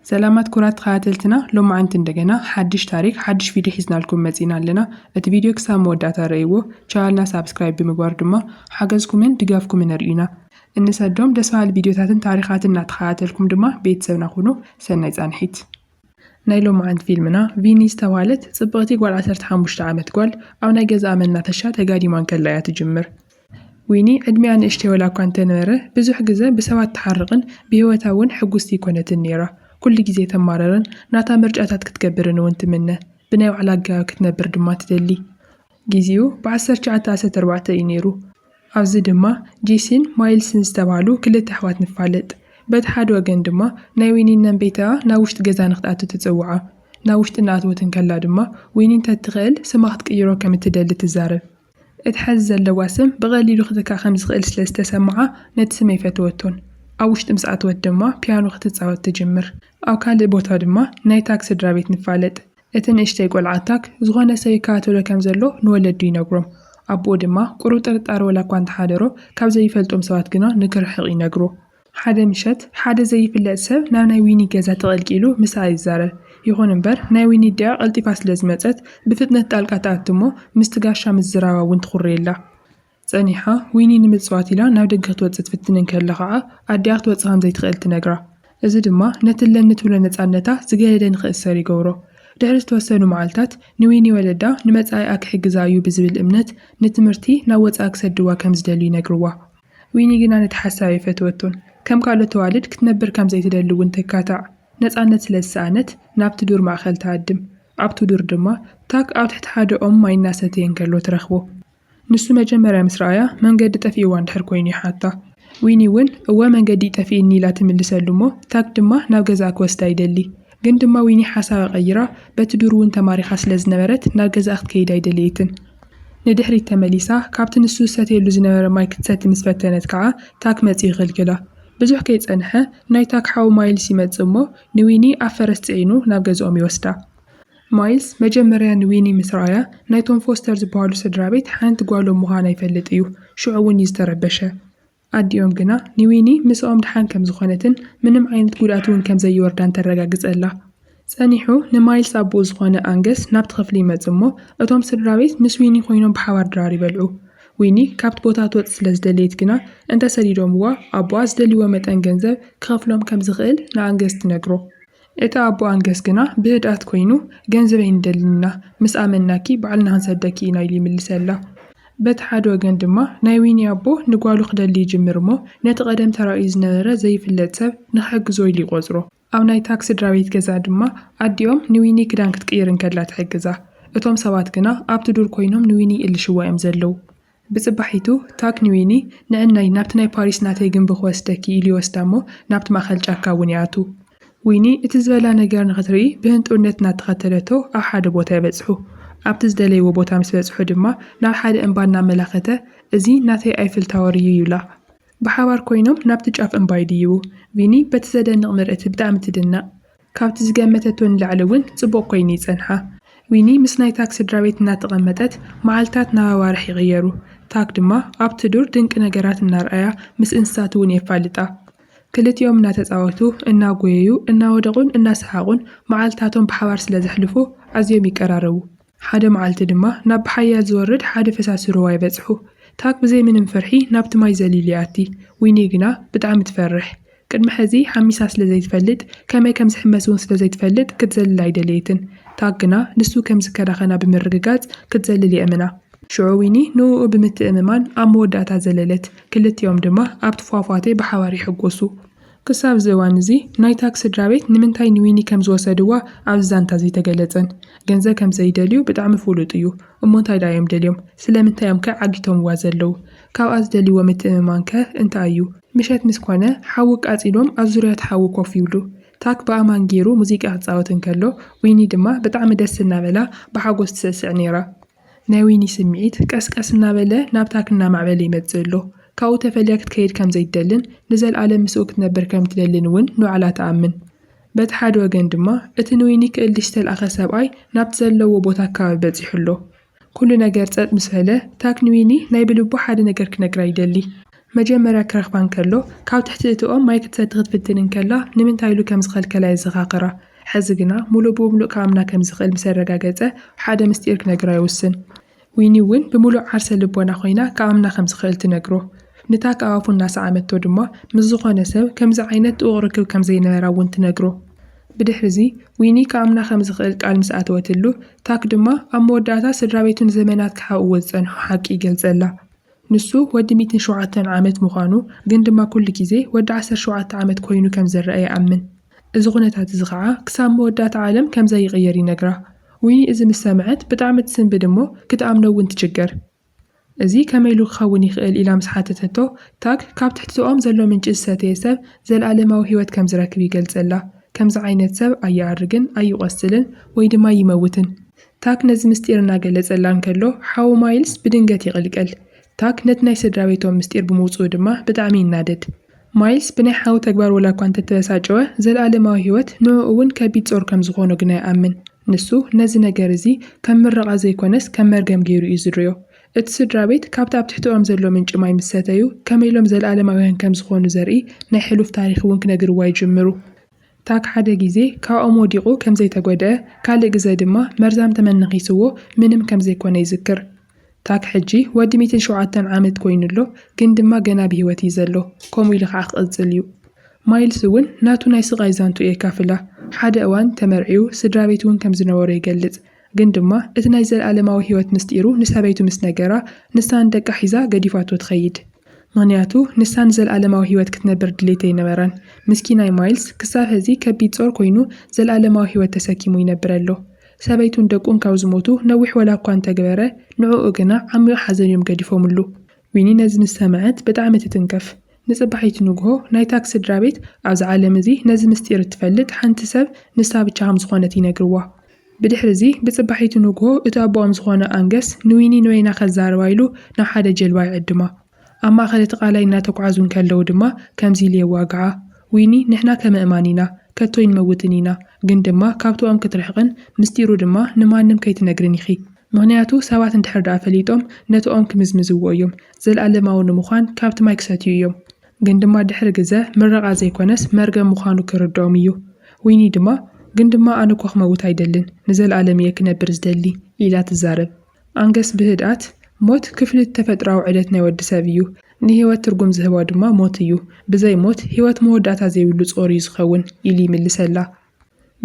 ሰላማት ኩራት ተኸታተልትና ሎማዓንቲ እንደገና ሓድሽ ታሪክ ሓድሽ ቪድዮ ሒዝናልኩም መጺና ኣለና እቲ ቪድዮ ክሳብ መወዳእታ ረእይዎ ቻናልና ሳብስክራይብ ብምግባር ድማ ሓገዝኩምን ድጋፍኩምን ኣርእዩና እንሰዶም ደስ በሃሊ ቪድዮታትን ታሪኻትን እናተኸታተልኩም ድማ ቤተሰብና ኩኑ ሰናይ ጻንሒት። ናይ ሎማዓንቲ ፊልምና ቪኒ ዝተብሃለት ጽብቕቲ ጓል ዓሰርተ ሓሙሽተ ዓመት ጓል ኣብ ናይ ገዛኣ መናፈሻ ተጋዲማ እንከላ እያ ትጅምር። ዊኒ ዕድሚኣ ንእሽተይ ዋላ'ኳ እንተ ነበረ፣ ብዙሕ ግዘ ብሰባት ትሓርቕን ብህይወታ እውን ሕጉስቲ ኣይኰነትን ነይራ። ኵሉ ግዜ ተማርርን ናታ ምርጫታት ክትገብርን እውን ትምነ። ብናይ ባዕላ ኣገባብ ክትነብር ድማ ትደሊ። ግዜኡ ብዓሰርተ ትሽዓተ ኣስታት ኣርባዕተ እዩ ነይሩ። ኣብዚ ድማ ጄሲን ማይልስን ዝተባህሉ ክልተ ኣሕዋት ንፋለጥ። በቲ ሓደ ወገን ድማ ናይ ዊኒ እነን ቤተኣ ናብ ውሽጢ ገዛ ንኽትኣቱ ትጽውዓ። ናብ ውሽጢ እናኣተወት እንከላ ድማ ዊኒ እንተ እትኽእል ስማ ክትቅይሮ ከም እትደሊ ትዛረብ። እቲ ሐዚ ዘለዋ ስም ብቐሊሉ ክትካእ ከምዝኽእል ስለ ዝተሰምዓ ነቲ ስም ኣይፈተወቶን። ኣብ ውሽጢ ምስ ኣተወት ድማ ፒያኖ ክትጻወት ትጅምር። ኣብ ካልእ ቦታ ድማ ናይ ታክ ስድራቤት ንፋለጥ። እቲ ንእሽተይ ቆልዓ ታክ ዝኾነ ሰብ ይከታተሎ ከም ዘሎ ንወለዱ ይነግሮም። ኣቦኡ ድማ ቁሩብ ጥርጣረ ወላኳ እንተሓደሮ ካብ ዘይፈልጦም ሰባት ግና ንክርሕቕ ይነግሮ። ሓደ ምሸት፣ ሓደ ዘይፍለጥ ሰብ ናብ ናይ ዊኒ ገዛ ተቐልቂሉ ምስኣ ይዛረብ። ይኹን እምበር፣ ናይ ዊኒ ኣዲኣ ቀልጢፋ ስለ ዝመጸት፣ ብፍጥነት ጣልቃ ትኣቱ እሞ ምስቲ ጋሻ ምዝራባ እውን ትኹርየላ። ጸኒሓ፣ ዊኒ ንምጽዋት ኢላ ናብ ደገ ክትወጽእ ትፍትን እንከላ ኸኣ፣ ኣዲኣ ክትወጽእ ከም ዘይትኽእል ትነግራ። እዚ ድማ ነቲ ኣለኒ ትብሎ ነጻነታ ዝገደደ ንኽእሰር ይገብሮ። ድሕሪ ዝተወሰኑ መዓልታት፣ ንዊኒ ወለዳ ንመጻኢኣ ክሕግዛ እዩ ብዝብል እምነት ንትምህርቲ ናብ ወጻኢ ክሰድዋ ከም ዝደልዩ ይነግርዋ። ዊኒ ግና ነቲ ሓሳብ ኣይፈተወቶን። ከም ካልኦት ኣዋልድ ክትነብር ከም ዘይትደሊ እውን ተካታዕ። ነጻነት ስለ ዝሰኣነት ናብቲ ዱር ማእከል ትሃድም። ኣብቲ ዱር ድማ ታክ ኣብ ትሕቲ ሓደ ኦም ማይ እናሰተየ እንከሎ ትረኽቦ። ንሱ መጀመርያ ምስ ረኣያ መንገዲ ጠፊእዋ እንድሕር ኰይኑ ይሓታ። ዊኒ እውን እወ መንገዲ'ዩ ጠፊእኒ ኢላ ትምልሰሉ እሞ ታክ ድማ ናብ ገዛኣ ክወስዳ ይደሊ። ግን ድማ ዊኒ ሓሳባ ቀይራ በቲ ዱር እውን ተማሪኻ ስለ ዝነበረት ናብ ገዛኣ ክትከይድ ኣይደለየትን። ንድሕሪት ተመሊሳ ካብቲ ንሱ ዝሰትየሉ ዝነበረ ማይ ክትሰቲ ምስ ፈተነት ከኣ ታክ መጺኡ ይኽልክላ። ብዙሕ ከይጸንሐ ናይ ታክ ሓው ማይልስ ይመጽእ እሞ ንዊኒ ኣብ ፈረስ ጽዒኑ ናብ ገዝኦም ይወስዳ። ማይልስ መጀመርያ ንዊኒ ምስ ረኣያ ናይቶም ፎስተር ዝበሃሉ ስድራቤት ሓንቲ ጓሎም ምዃና ይፈልጥ እዩ። ሽዑ እውን እዩ ዝተረበሸ። ኣዲኦም ግና ንዊኒ ምስኦም ደሓን ከም ዝኾነትን ምንም ዓይነት ጉድኣት'ውን ከም ዘይወርዳን ተረጋግጸላ። ጸኒሑ ንማይልስ ኣቦኡ ዝኾነ ኣንገስ ናብቲ ክፍሊ ይመጽእ እሞ እቶም ስድራቤት ምስ ዊኒ ኮይኖም ብሓባር ድራር ይበልዑ። ዊኒ ካብቲ ቦታ ክትወጽእ ስለ ዝደለየት ግና እንተ ሰዲዶምዋ ኣቦኣ ዝደልይዎ መጠን ገንዘብ ክኸፍሎም ከም ዝኽእል ንኣንገስ ትነግሮ። እቲ ኣቦ ኣንገስ ግና ብህድኣት ኮይኑ፣ ገንዘበይ ንደልን ኢና፣ ምስ ኣመንናኪ ባዕልና ክንሰደኪ ኢና ኢሉ ይምልሰላ። በቲ ሓደ ወገን ድማ ናይ ዊኒ ኣቦ ንጓሉ ክደሊ ይጅምር እሞ ነቲ ቀደም ተራእዩ ዝነበረ ዘይፍለጥ ሰብ ንኽሕግዞ ኢሉ ይቖጽሮ። ኣብ ናይ ታክ ስድራቤት ገዛ ድማ ኣዲኦም ንዊኒ ክዳን ክትቅይር እንከላ ትሕግዛ። እቶም ሰባት ግና ኣብቲ ዱር ኮይኖም ንዊኒ ይእልሽዋ እዮም ዘለዉ። ብጽባሒቱ ታክንዊኒ ንዕናይ ናብቲ ናይ ፓሪስ ናተይ ግንቢ ክወስደኪ ኢሉ ይወስዳ እሞ ናብቲ ማእከል ጫካ እውን ይኣትዉ። ዊኒ እቲ ዝበላ ነገር ንኽትርኢ ብህንጡውነት እናተኸተለቶ ኣብ ሓደ ቦታ ይበጽሑ። ኣብቲ ዝደለይዎ ቦታ ምስ በጽሑ ድማ ናብ ሓደ እምባ እናመላኸተ እዚ ናተይ ኣይፍል ታወር እዩ ይብላ። ብሓባር ኮይኖም ናብቲ ጫፍ እምባ ይድይቡ። ቪኒ በቲ ዘደንቕ ምርእቲ ብጣዕሚ ትድነቕ። ካብቲ ዝገመተቶ ንላዕሊ እውን ጽቡቕ ኰይኑ እዩ ጸንሓ። ዊኒ ምስ ናይ ታክ ስድራቤት እናተቐመጠት፣ መዓልታት ናብ ኣዋርሕ ይቕየሩ። ታክ ድማ ኣብቲ ዱር ድንቂ ነገራት እናርኣያ ምስ እንስሳት እውን የፋልጣ። ክልቲኦም እናተጻወቱ፣ እናጐየዩ፣ እናወደቑን እናሰሓቑን መዓልታቶም ብሓባር ስለ ዘሕልፉ ኣዝዮም ይቀራረቡ። ሓደ መዓልቲ ድማ ናብ ብሓያል ዝወርድ ሓደ ፈሳሲ ሩባ ይበጽሑ። ታክ ብዘይ ምንም ፍርሒ ናብቲ ማይ ዘሊሉ ይኣቲ። ዊኒ ግና ብጣዕሚ ትፈርሕ። ቅድሚ ሕዚ ሓሚሳ ስለ ዘይትፈልጥ፣ ከመይ ከም ዝሕመስ'ውን ስለ ዘይትፈልጥ ክትዘልል ኣይደለየትን። ታክ ግና ንሱ ከም ዝከናኸና ብምርግጋጽ ክትዘልል የእምና። ሽዑ ዊኒ ንእኡ ብምትእምማን ኣብ መወዳእታ ዘለለት። ክልቲኦም ድማ ኣብቲ ፏፏቴ ብሓባር ይሕጎሱ። ክሳብ እዚ እዋን እዚ ናይታ ስድራቤት ንምንታይ ንዊኒ ከም ዝወሰድዋ ኣብዚ ዛንታ እዚ ኣይተገለጸን። ገንዘብ ከም ዘይደልዩ ብጣዕሚ ፍሉጥ እዩ። እሞ እንታይ ድኣ እዮም ደልዮም? ስለምንታይ እዮም ከ ዓጊቶምዋ ዘለዉ? ካብኣ ዝደልይዎ ምትእምማን ከ እንታይ እዩ? ምሸት ምስ ኮነ ሓዊ ኣቃጺሎም ኣብ ዙርያ እቲ ሓዊ ኮፍ ይብሉ። ታክ ብኣማን ጌሩ ሙዚቃ ክጻወት እንከሎ ዊኒ ድማ ብጣዕሚ ደስ እናበላ ብሓጎስ ትስዕስዕ ኔራ። ናይ ዊኒ ስምዒት ቀስ ቀስ እናበለ ናብታክ እናማዕበለ ይመጽእ ኣሎ። ካብኡ ተፈልያ ክትከይድ ከም ዘይትደልን ንዘልኣለም ምስኡ ክትነብር ከም እትደልን እውን ንባዕላ ትኣምን። በቲ ሓደ ወገን ድማ እቲ ንዊኒ ክእልሽ ዝተልኣኸ ሰብኣይ ናብቲ ዘለውዎ ቦታ ኣከባቢ በጺሑ ኣሎ። ኩሉ ነገር ጸጥ ምስ በለ ታክ ንዊኒ ናይ ብልቡ ሓደ ነገር ክነግራ ይደሊ። መጀመርያ ክረኽባ እንከሎ ካብ ትሕቲ እቲ ኦም ማይ ክትሰቲ ክትፍትን እንከላ ንምንታይ ኢሉ ከም ዝኸልከላ የዘኻኽራ። ሕዚ ግና ሙሉእ ብሙሉእ ክኣምና ከም ዝኽእል ምስ ኣረጋገጸ ሓደ ምስጢር ክነግራ ይውስን። ዊኒ እውን ብምሉእ ዓርሰ ልቦና ኮይና ክኣምና ከም ዝኽእል ትነግሮ። ኑታ ከኣፉ እናሰዓመቶ ድማ ምስ ዝኾነ ሰብ ከምዚ ዓይነት ጥቡቕ ርክብ ከም ዘይነበራ እውን ትነግሮ። ብድሕሪዚ ዊኒ ክኣምና ከም ዝኽእል ቃል ምስ ኣተወትሉ ታክ ድማ ኣብ መወዳእታ ስድራቤቱ ንዘመናት ክሓብእዎ ዝጸንሑ ሓቂ ይገልጸላ። ንሱ ወዲ ሚእትን ሸውዓተን ዓመት ምዃኑ፣ ግን ድማ ኩሉ ግዜ ወዲ ዓሰርተ ሸውዓተ ዓመት ኮይኑ ከም ዝረኣ ይኣምን። እዚ ኩነታት እዚ ኸኣ ክሳብ መወዳእታ ዓለም ከም ዘይቕየር ይነግራ። ዊኒ እዚ ምስ ሰምዐት ብጣዕሚ ትስንብድ እሞ ክትኣምኖ እውን ትችገር። እዚ ከመይ ኢሉ ክኸውን ይኽእል ኢላ ምስ ሓተተቶ፣ ታግ ካብ ትሕቲ ዝኦም ዘሎ ምንጪ ዝሰተየ ሰብ ዘልኣለማዊ ህይወት ከም ዝረክብ ይገልጸላ። ከምዚ ዓይነት ሰብ ኣይኣርግን፣ ኣይቖስልን፣ ወይ ድማ ይመውትን። ታክ ነዚ ምስጢር እናገለጸላ እንከሎ፣ ሓዉ ማይልስ ብድንገት ይቕልቀል። ታክ ነቲ ናይ ስድራቤቶም ምስጢር ብምውጽኡ ድማ ብጣዕሚ ይናደድ። ማይልስ ብናይ ሓዉ ተግባር ወላኳ እንተተበሳጨወ፣ ዘልኣለማዊ ህይወት ንዕኡ'ውን ከቢድ ጾር ከም ዝኾኖ ግና ይኣምን። ንሱ ነዚ ነገር እዚ ከም ምረቓ ዘይኮነስ ከም መርገም ገይሩ እዩ ዝርእዮ። እቲ ስድራቤት ካብቲ ኣብ ትሕተኦም ዘሎ ምንጪ ማይ ምስ ሰተዩ ከመይ ኢሎም ዘልኣለማውያን ከም ዝኾኑ ዘርኢ ናይ ሕሉፍ ታሪኽ'ውን ክነግርዋ ይጅምሩ። ታክ ሓደ ግዜ ካብኦም ወዲቑ ከም ዘይተጎድኣ፣ ካልእ ግዘ ድማ መርዛም ተመን ነኺስዎ ምንም ከም ዘይኮነ ይዝክር። ታክ ሕጂ ወዲ ሚእትን ሸውዓተን ዓመት ኮይኑ ኣሎ፣ ግን ድማ ገና ብህይወት እዩ ዘሎ፣ ከምኡ ኢሉ ኸኣ ክቕጽል እዩ። ማይልስ እውን ናቱ ናይ ስቓይ ዛንትኡ የካፍላ። ሓደ እዋን ተመርዕዩ ስድራቤት እውን ከም ዝነበሮ ይገልጽ። ግን ድማ እቲ ናይ ዘለኣለማዊ ህይወት ምስጢሩ ንሰበይቱ ምስ ነገራ፣ ንሳ ንደቃ ሒዛ ገዲፋቶ ትኸይድ። ምኽንያቱ ንሳ ንዘለኣለማዊ ህይወት ክትነብር ድሌት ኣይነበራን። ምስኪናይ ማይልስ ክሳብ ሐዚ ከቢድ ጾር ኮይኑ ዘለኣለማዊ ህይወት ተሰኪሙ ይነብር ኣሎ። ሰበይቱን ደቁን ካብ ዝሞቱ ነዊሕ ወላኳ እንተግበረ ንዕኡ ግና ዓሚቕ ሓዘን እዮም ገዲፎምሉ። ዊኒ ነዚ ምስ ሰመዐት ብጣዕሚ ትትንከፍ። ንጽባሒቱ ንግሆ ናይ ታክ ስድራቤት ኣብዛ ዓለም እዚ ነዚ ምስጢር እትፈልጥ ሓንቲ ሰብ ንሳ ብቻ ከም ዝኾነት ይነግርዋ። ብድሕሪ'ዚ፣ ብጽባሒቱ ንግሆ፣ እቲ ኣቦኦም ዝዀነ ኣንገስ ንዊኒ ኖይና ከዛርባ ኢሉ ናብ ሓደ ጀልባ ይዕድማ። ኣብ ማእከል እቲ ቓላይ እናተጕዓዙ እንከለዉ ድማ ከምዚ ኢሉ የዋግዓ፣ ዊኒ፣ ንሕና ከምእማን ኢና፣ ከቶ ኣይንመውትን ኢና፣ ግን ድማ ካብቶኦም ክትርሕቕን ምስጢሩ ድማ ንማንም ከይትነግርን ኢኺ። ምኽንያቱ ሰባት እንድሕር ደኣ ፈሊጦም ነቶኦም ክምዝምዝዎ እዮም፣ ዘለኣለማዊ ንምዃን ካብቲ ማይ ክሰትዩ እዮም። ግን ድማ ድሕሪ ግዘ ምረቓ ዘይኮነስ መርገም ምዃኑ ክርድኦም እዩ። ዊኒ ድማ ግን ድማ ኣነ እኮ ክመውት ኣይደልን ንዘልኣለም እየ ክነብር ዝደሊ ኢላ ትዛረብ። ኣንገስ ብህድኣት፣ ሞት ክፍሊት ተፈጥሮኣዊ ዑደት ናይ ወዲ ሰብ እዩ። ንህይወት ትርጉም ዝህባ ድማ ሞት እዩ። ብዘይ ሞት ህይወት መወዳእታ ዘይብሉ ጾር እዩ ዝኸውን ኢሉ ይምልሰላ።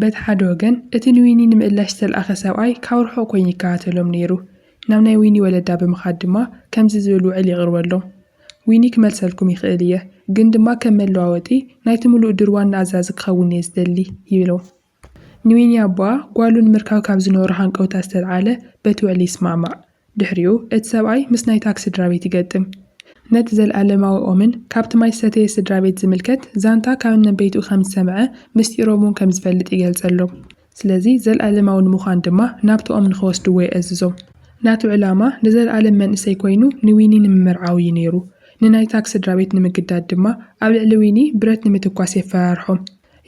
በቲ ሓደ ወገን፣ እቲ ንዊኒ ንምእላሽ ዝተልኣኸ ሰብኣይ ካብ ርሑቕ ኰይኑ ይከታተሎም ነይሩ። ናብ ናይ ዊኒ ወለዳ ብምኻድ ድማ ከምዚ ዝብል ውዕል የቕርበሎም፣ ዊኒ ክመልሰልኩም ይኽእል እየ፣ ግን ድማ ከም መለዋወጢ ናይቲ ምሉእ ዱር ዋና ኣዛዚ ክኸውን እየ ዝደሊ ይብሎም። ንዊኒ ኣቦኣ ጓሉ ንምርካብ ካብ ዝነበሮ ሃንቀውታ ዝተልዓለ በቲ ውዕሊ ይስማዕማዕ። ድሕሪኡ እቲ ሰብኣይ ምስ ናይ ታክሲ ድራቤት ይገጥም። ነቲ ዘልኣለማዊ ኦምን ካብቲ ማይ ዝሰተየ ስድራቤት ዝምልከት ዛንታ ካብ እነበይትኡ ከም ዝሰምዐ ምስጢሮም እውን ከም ዝፈልጥ ይገልጸሎም። ስለዚ ዘልኣለማዊ ንምዃን ድማ ናብቲ ኦም ንኸወስድዎ የእዝዞም። ናቱ ዕላማ ንዘልኣለም መንእሰይ ኮይኑ ንዊኒ ንምምርዓው እዩ ነይሩ። ንናይ ታክ ስድራቤት ንምግዳድ ድማ ኣብ ልዕሊ ዊኒ ብረት ንምትኳስ የፈራርሖም።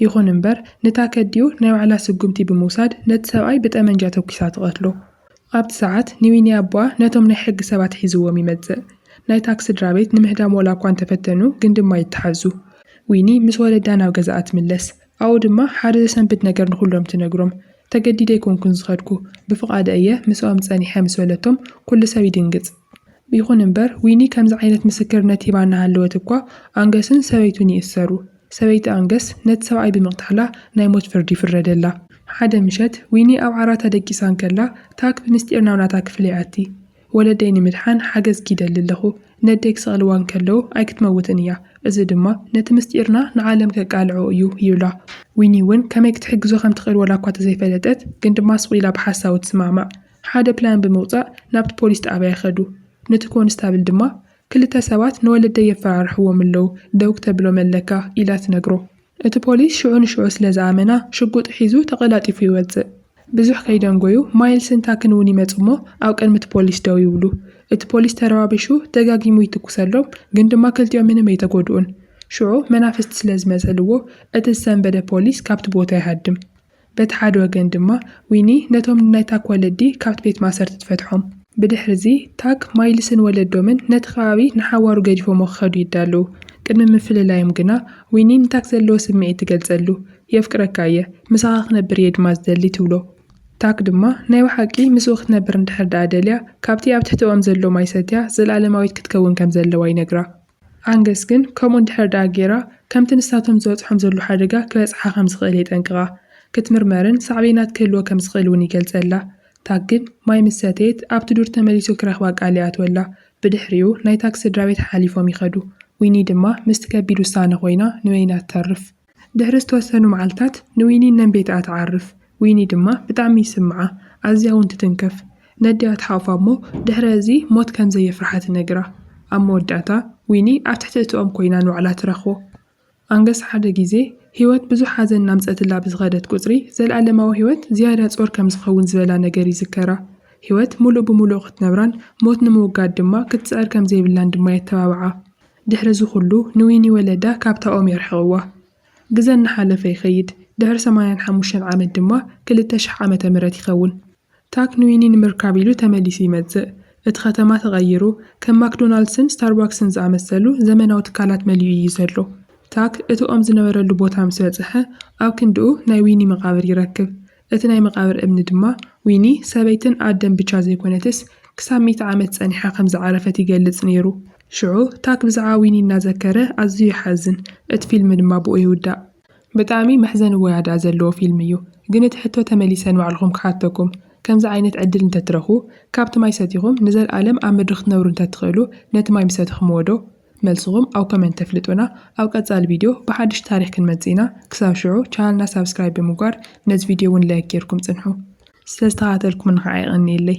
ይኹን እምበር ንታክ ኣዲኡ ናይ ባዕላ ስጉምቲ ብምውሳድ ነቲ ሰብኣይ ብጠመንጃ ተኲሳ ትቐትሎ። ኣብቲ ሰዓት ንዊኒ ኣቦኣ ነቶም ናይ ሕጊ ሰባት ሒዝዎም ይመጽእ። ናይታክ ስድራቤት ንምህዳም ዋላኳ እንተፈተኑ ግን ድማ ይተሓዙ። ዊኒ ምስ ወለዳ ናብ ገዛኣ ትምለስ። ኣብኡ ድማ ሓደ ዘሰንብድ ነገር ንኹሎም ትነግሮም። ተገዲደ ኣይኮንኩን ዝኸድኩ፣ ብፍቓደ እየ ምስኦም ጸኒሐ ምስ በለቶም ኩሉ ሰብ ይድንግጽ። ይኹን እምበር ዊኒ ከምዚ ዓይነት ምስክርነት ሂባ እናሃለወት እኳ ኣንገስን ሰበይቱን ይእሰሩ። ሰበይቲ ኣንገስ ነቲ ሰብኣይ ብምቕታላ ናይ ሞት ፍርዲ ይፍረደላ። ሓደ ምሸት ዊኒ ኣብ ዓራታ ደቂሳ እንከላ፣ ታክ ብምስጢር ናብ ናታ ክፍሊ ይኣቲ። ወለደይ ንምድሓን ሓገዝኪ ይደሊ ኣለኹ። ነደይ ክሰቕልዋ እንከለዉ ኣይክትመውትን እያ፣ እዚ ድማ ነቲ ምስጢርና ንዓለም ከቃልዖ እዩ ይብላ። ዊኒ እውን ከመይ ክትሕግዞ ከም ትኽእል ወላኳ ተዘይፈለጠት ግን ድማ ስቕ ኢላ ብሓሳቡ ትስማዕማዕ። ሓደ ፕላን ብምውጻእ ናብቲ ፖሊስ ጣብያ ይኸዱ። ንቲ ኮንስታብል ድማ ክልተ ሰባት ንወለደይ የፈራርሕዎም ኣለዉ፣ ደው ክተብሎም ኣለካ ኢላ ትነግሮ። እቲ ፖሊስ ሽዑ ንሽዑ ስለ ዝኣመና፣ ሽጉጥ ሒዙ ተቐላጢፉ ይወጽእ። ብዙሕ ከይደንጐዩ ማይልስን ታክን እውን ይመጹ'ሞ ኣብ ቅድሚ እቲ ፖሊስ ደው ይብሉ። እቲ ፖሊስ ተረባቢሹ ደጋጊሙ ይትኵሰሎም፣ ግን ድማ ክልቲኦም ምንም ኣይተጐድኡን። ሽዑ መናፍስቲ ስለ ዝመሰልዎ እቲ ዝሰንበደ ፖሊስ ካብቲ ቦታ ይሃድም። በቲ ሓደ ወገን ድማ ዊኒ ነቶም ንናይ ታክ ወለዲ ካብቲ ቤት ማእሰርቲ ትፈትሖም። ብድሕሪዚ ታክ፣ ማይልስን ወለዶምን ነቲ ከባቢ ንሓዋሩ ገዲፎሞ ክኸዱ ይዳለዉ። ቅድሚ ምፍልላዮም ግና ዊኒ ንታክ ዘለዎ ስምዒት ትገልጸሉ። የፍቅረካ እየ፣ ምሳኻ ክነብር እየ ድማ ዝደሊ ትብሎ። ታክ ድማ ናይ ብሓቂ ምስኡ ክትነብር እንድሕር ደኣ ደልያ ካብቲ ኣብ ትሕቲ ኦም ዘሎ ማይ ሰትያ ዘልኣለማዊት ክትከውን ከም ዘለዋ ይነግራ። ኣንገስ ግን ከምኡ እንድሕር ደኣ ገይራ፣ ከምቲ ንሳቶም ዝበጽሖም ዘሎ ሓደጋ ክበጽሓ ከም ዝኽእል የጠንቅቓ። ክትምርመርን ሳዕቤናት ክህልዎ ከም ዝኽእል እውን ይገልጸላ። ታክ ግን ማይ ምስ ሰተየት ኣብቲ ዱር ተመሊሱ ክረኽባ ቃል ይኣትወላ። ብድሕሪኡ ናይ ታክ ስድራቤት ሓሓሊፎም ይኸዱ። ዊኒ ድማ ምስቲ ከቢድ ውሳነ ኮይና ንበይና ትተርፍ። ድሕሪ ዝተወሰኑ መዓልታት ንዊኒ ነንቤታኣ ትዓርፍ። ዊኒ ድማ ብጣዕሚ ይስምዓ፣ ኣዝያ እውን ትትንከፍ። ነዲኣ ትሓቑፋ እሞ ድሕሪ እዚ ሞት ከም ዘየፍርሓ ትነግራ። ኣብ መወዳእታ ዊኒ ኣብ ትሕቲ እቲ ኦም ኮይና ንባዕላ ትረኽቦ። ኣንገስ ሓደ ግዜ ህይወት ብዙሕ ሓዘን እናምጸትላ ብዝኸደት ቁጽሪ ዘልኣለማዊ ህይወት ዝያዳ ጾር ከም ዝኸውን ዝበላ ነገር ይዝከራ። ህይወት ምሉእ ብምሉእ ክትነብራን ሞት ንምውጋድ ድማ ክትጽዕር ከም ዘይብላን ድማ የተባብዓ። ድሕሪ እዚ ኹሉ ንዊኒ ወለዳ ካብታ ኦም የርሕቕዋ። ግዘ እናሓለፈ ይኸይድ፣ ድሕሪ ሰማንያን ሓሙሽተን ዓመት ድማ ክልተ ሽሕ ዓመተ ምህረት ይኸውን። ታክ ንዊኒ ንምርካብ ኢሉ ተመሊሱ ይመፅእ። እቲ ከተማ ተቐይሩ፣ ከም ማክዶናልድስን ስታርባክስን ዝኣመሰሉ ዘመናዊ ትካላት መሊኡ እዩ ዘሎ። ታክ እቲ ኦም ዝነበረሉ ቦታ ምስ በፅሐ፣ ኣብ ክንድኡ ናይ ዊኒ መቓብር ይረክብ። እቲ ናይ መቓብር እምኒ ድማ ዊኒ ሰበይትን ኣደን ብቻ ዘይኮነትስ ክሳብ ሚእቲ ዓመት ጸኒሓ ከም ዝዓረፈት ይገልጽ ነይሩ። ሽዑ ታክ ብዛዕባ ዊኒ እናዘከረ ኣዝዩ ይሓዝን፣ እቲ ፊልም ድማ ብኡ ይውዳእ። ብጣዕሚ መሕዘኒ ወያድኣ ዘለዎ ፊልም እዩ ግን እቲ ሕቶ ተመሊሰ ንባዕልኹም ክሓተኩም ከምዚ ዓይነት ዕድል እንተትረኽቡ ካብቲ ማይ ሰቲኹም ንዘልኣለም ኣብ ምድሪ ክትነብሩ እንተትኽእሉ ነቲ ማይ ምሰተኽምዎ ዶ መልስኹም ኣብ ኮሜንት ተፍልጡና። ኣብ ቀጻሊ ቪድዮ ብሓድሽ ታሪኽ ክንመጽእ ኢና። ክሳብ ሽዑ ቻነልና ሳብስክራይብ ብምግባር ነዚ ቪድዮ እውን ላይክ ጌርኩም ጽንሑ። ስለ ዝተኸታተልኩምኒ ኸኣ የቐንየለይ።